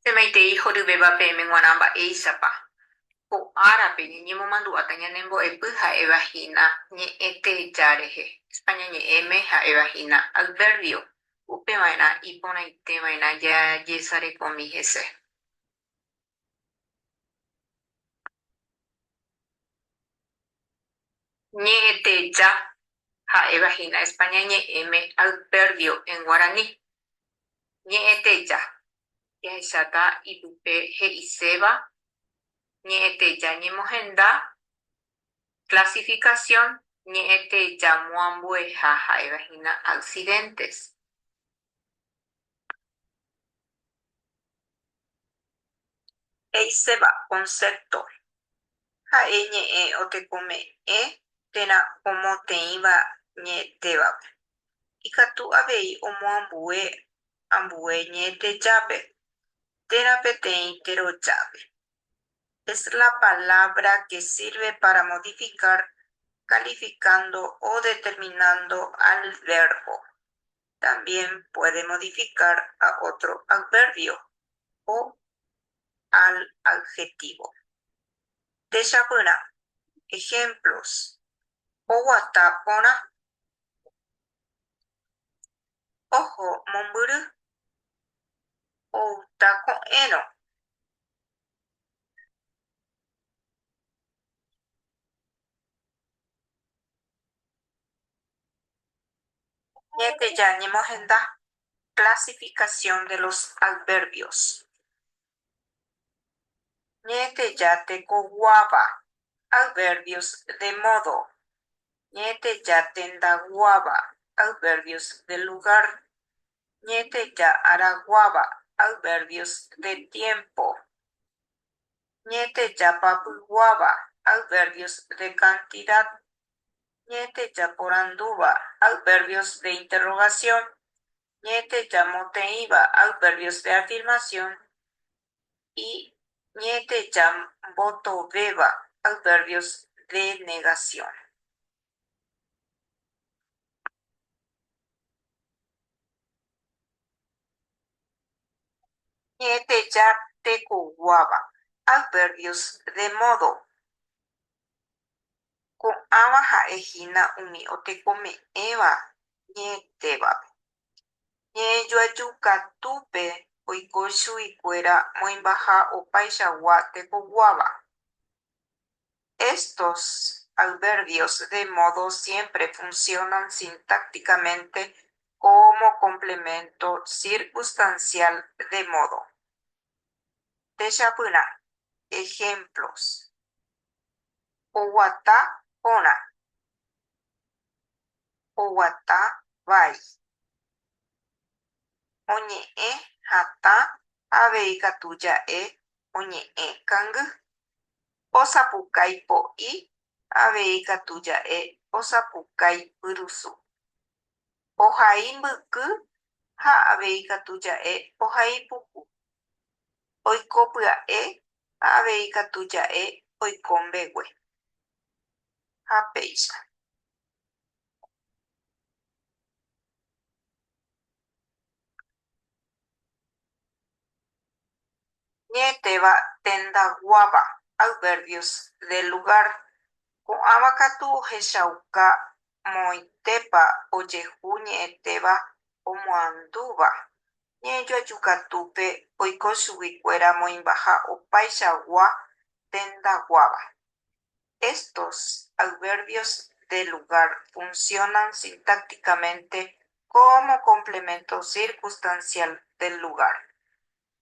Pemaitei horyvéva peẽme g̃uarã mba'éichapa ko árape ñañemomandu'áta ñanembo'epy ha'éva hína ñe'ẽ teja rehe, España ñe'ẽme ha'éva hína adverbio, upeva'erã iporãiteva'erã jajesarekomi hese. Ñe'ẽteja ha'éva hína España ñe'ẽme adverdio en guarani. Ñe'ẽteja jahecháta ipype he'iséva ñe'ẽteja ñemohenda, clasificación, ñe'ẽtejamoambueha ha'éva hína accidentes. He'iséva concepto ha'e ñe'ẽ otekome'ẽ térã omoteĩva ñe'ẽtévape. Ikatu avei omoambue ambue ñe'ẽtejápe térã peteĩ terojápe. Es la palabra que sirve para modificar calificando o determinando al verbo. también puede modificar a otro adverbio o al adjetivo. Techapyrã, Ejemplos, Oguata porã. Oho mombyry. Outa ko'ẽrõ. Upépe jañemohenda clasificación de los adverbios. Ñe'ẽteja tekoguáva, adverbios de modo. Ñe'ẽteja tendaguáva, adverbios de lugar. Ñe'ẽteja araguáva, adverbios de tiempo. Ñe'ẽteja papyguáva, adverbios de cantidad. Ñe'ẽteja porandúva, adverbios de interrogación. Ñe'ẽteja moteĩva, adverbios de afirmación. Y ñe'ẽteja mbotovéva, adverbios de negación. Ñe'ẽteja tekoguáva, adverbios de modo. Ko'ãva ha'e hína umi otekome'ẽva ñe'ẽtévape. Ñe'ẽjoaju katúpe oiko chuguikuéra moĩmbaha opaichagua tekoguáva. Estos adverbios de modo siempre funcionan sintácticamente como complemento circunstancial de modo. Techapyrã ejemplos Oguata porã. Oguata vai. Oñe'ẽ hatã avei katu ja'e oñe'ẽ kangy. Osapukái po'i avei katu ja'e osapukái pyrusu. Ohai mbyky ha avei katu ja'e ohai puku. oiko pya'e ha avei katu ja'e oiko mbegue. Ha péicha. Ñe'ẽtéva tenda guáva, adverbios del lugar, Ko'ãva katu ohechauka moõitépa ojehu ñe'ẽtéva omoandúva. Ñe'ẽjoaju katúpe oiko chuguikuéra moĩmbaha opaichagua tendaguáva. Estos adverbios de lugar funcionan sintácticamente como complemento circunstancial del lugar.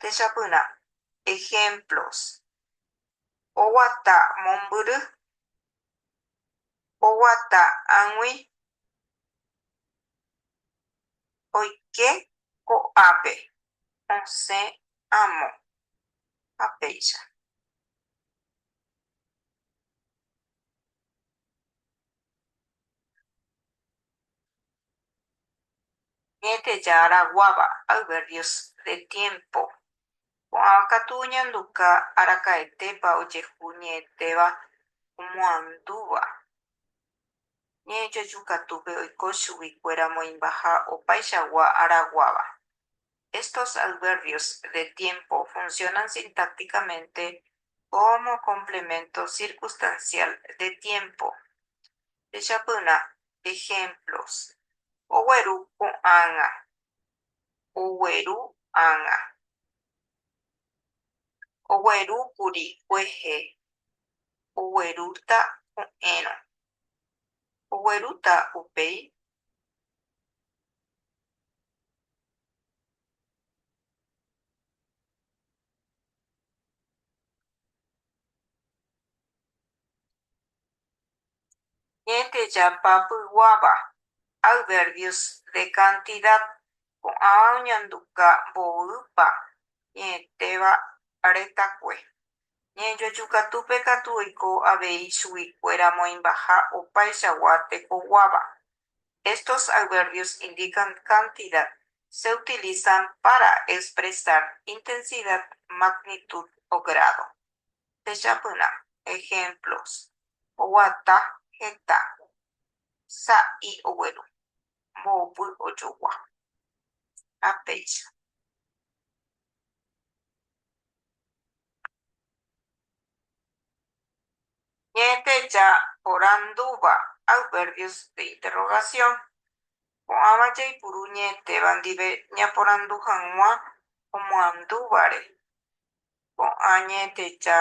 Techapyrã ejemplos oguata mombyry, oguata ag̃ui oike ko'ápe osẽ amo ha péicha. Ñe'ẽteja Araguáva, Adverbios de tiempo, Ko'ã katu oñanduka araka'etépa ojehu ñe'ẽtéva omoandúva. Ñe'ẽjoju katúpe oiko chuguikuéra moĩmbaha opaichagua araguáva. Estos adverbios de tiempo funcionan sintácticamente como complemento circunstancial de tiempo. Jechapyrã ejemplos. Ogueru ko'ág̃a. ogueru ág̃a. Ogueru kuri kuehe, oguerúta ko'ẽrõ. Oguerúta upéi Ñe'ẽte japapyguáva, adverbios de cantidad, ko'ãva oñanduka mboýpa ñe'ẽtéva retãkue. Ñe'ẽjojukatúpe katu oiko avei chuguikuéra moĩmbaha opaichagua tekoguáva. Estos adverbios indican cantidad, se utilizan para expresar intensidad, magnitud o grado. techapyrã, ejemplos, oguata, heta, sa'i ogueru, mbo'opy ojogua, ha péicha. Ñe'ẽteja porandúva adverbios de interrogación. Ko'ãva jaipuru ñe'ẽtéva ndive ñaporandu hag̃ua omoandúvare. Ko'ã ñe'ẽtecha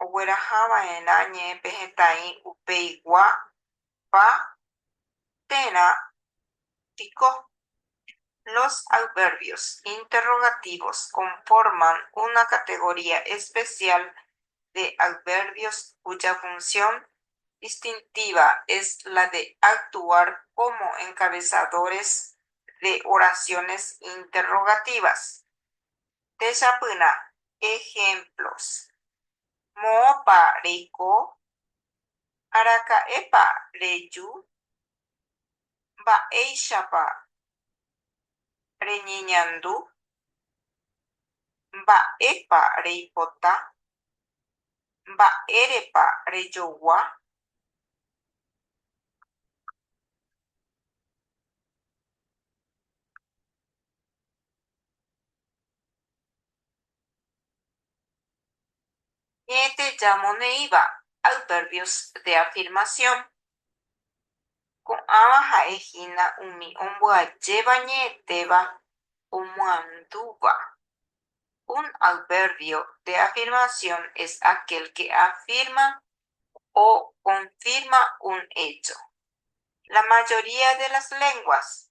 oguerahava'erã ñe'ẽpe hetãi upeigua pa térã piko. Los adverbios interrogativos conforman una categoría especial de adverbios cuya función distintiva es la de actuar como encabezadores de oraciones interrogativas. Techapyrã ehémplos. Moõpa reiko? Araka'épa reju? Mba'éichapa reñeñandu? Mba'épa reipota? Mba'érepa rejogua? Ñe'ẽte jamoneĩva, adverbios de afirmación, ko'ãva ha'e hína umi ombyajéva ñe'ẽtéva omyandúva. Un adverbio de afirmación es aquel que afirma o confirma un hecho. La mayoría de las lenguas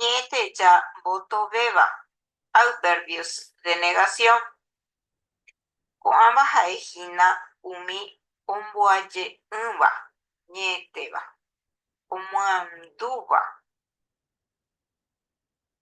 Ñe'ẽteja mbotovéva, adverbios de negación, ko'ãva ha'e hína umi omboaje'ỹva, ñe'ẽtéva, omyandúva.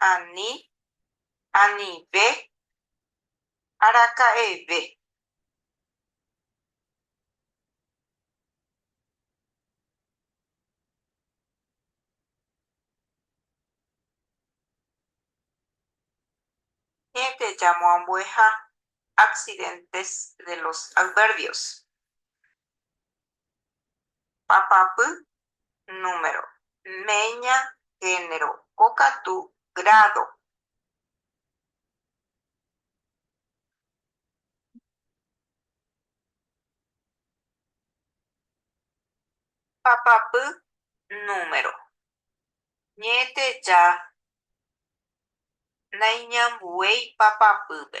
ani anive araka'eve. Hénte jamoambueha accidentes de los adverbios. Papapy, número. Meña, género. Kokatu, grado. Papapy, número. Ñe'ẽteja naiñambuéi papapýpe.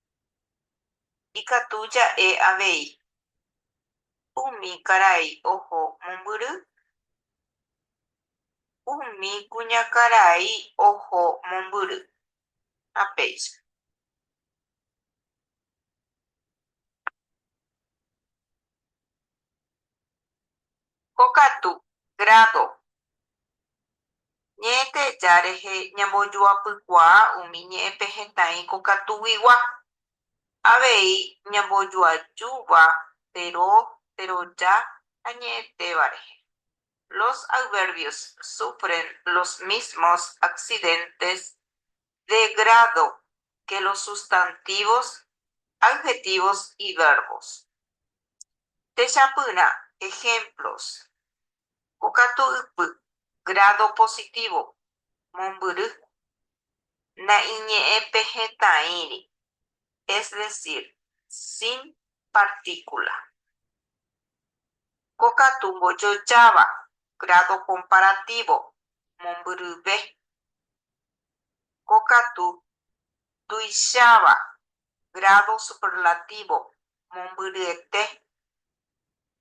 Ikatu ja'e avei. Umi karai oho mombyry. Umi kuñakarai oho mombyry. Ha péicha. Ko katu, grado. Ñe'ẽteja rehe ñambojoapykuaa umi ñe'ẽpehetãi ko katuguigua. Avei ñambojoajúva tero, teroja ha ñe'ẽtéva rehe. Los adverbios sufren los mismos accidentes de grado que los sustantivos, adjetivos y verbos. Techapyrã ejemplos, Pokatu ypy, grado positivo, mombyry, naiñe'ẽpehetãíri, es decir, sin partícula. Pokatu mbojojáva, grado comparativo, mombyryve, Ko katu, tuicháva, grado superlativo, mombyryete.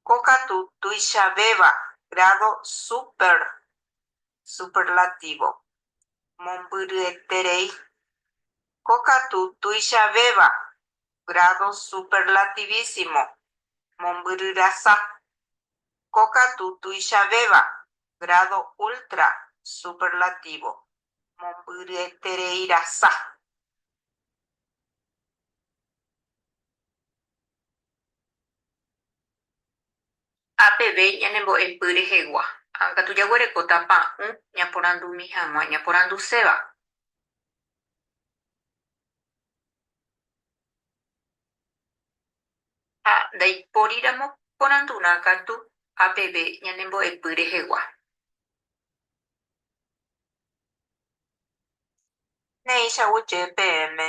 Ko katu, tuichavéva, grado súper, superlativo, mombyryeterei. Ko katu, tuichavéva, grado superlativísimo, mombyryrasa. Ko katu, tuichavéva, grádo ultra superlativo, mombyryetereirasa. Ha peve ñanembo'epy rehegua, ha katu jaguerekóta pa'ũ ñaporandumi hag̃ua ñaporanduséva. Ha ndaipóriramo porandurã katu ha peve ñanembo'epy rehegua. Péicha guyje peẽme.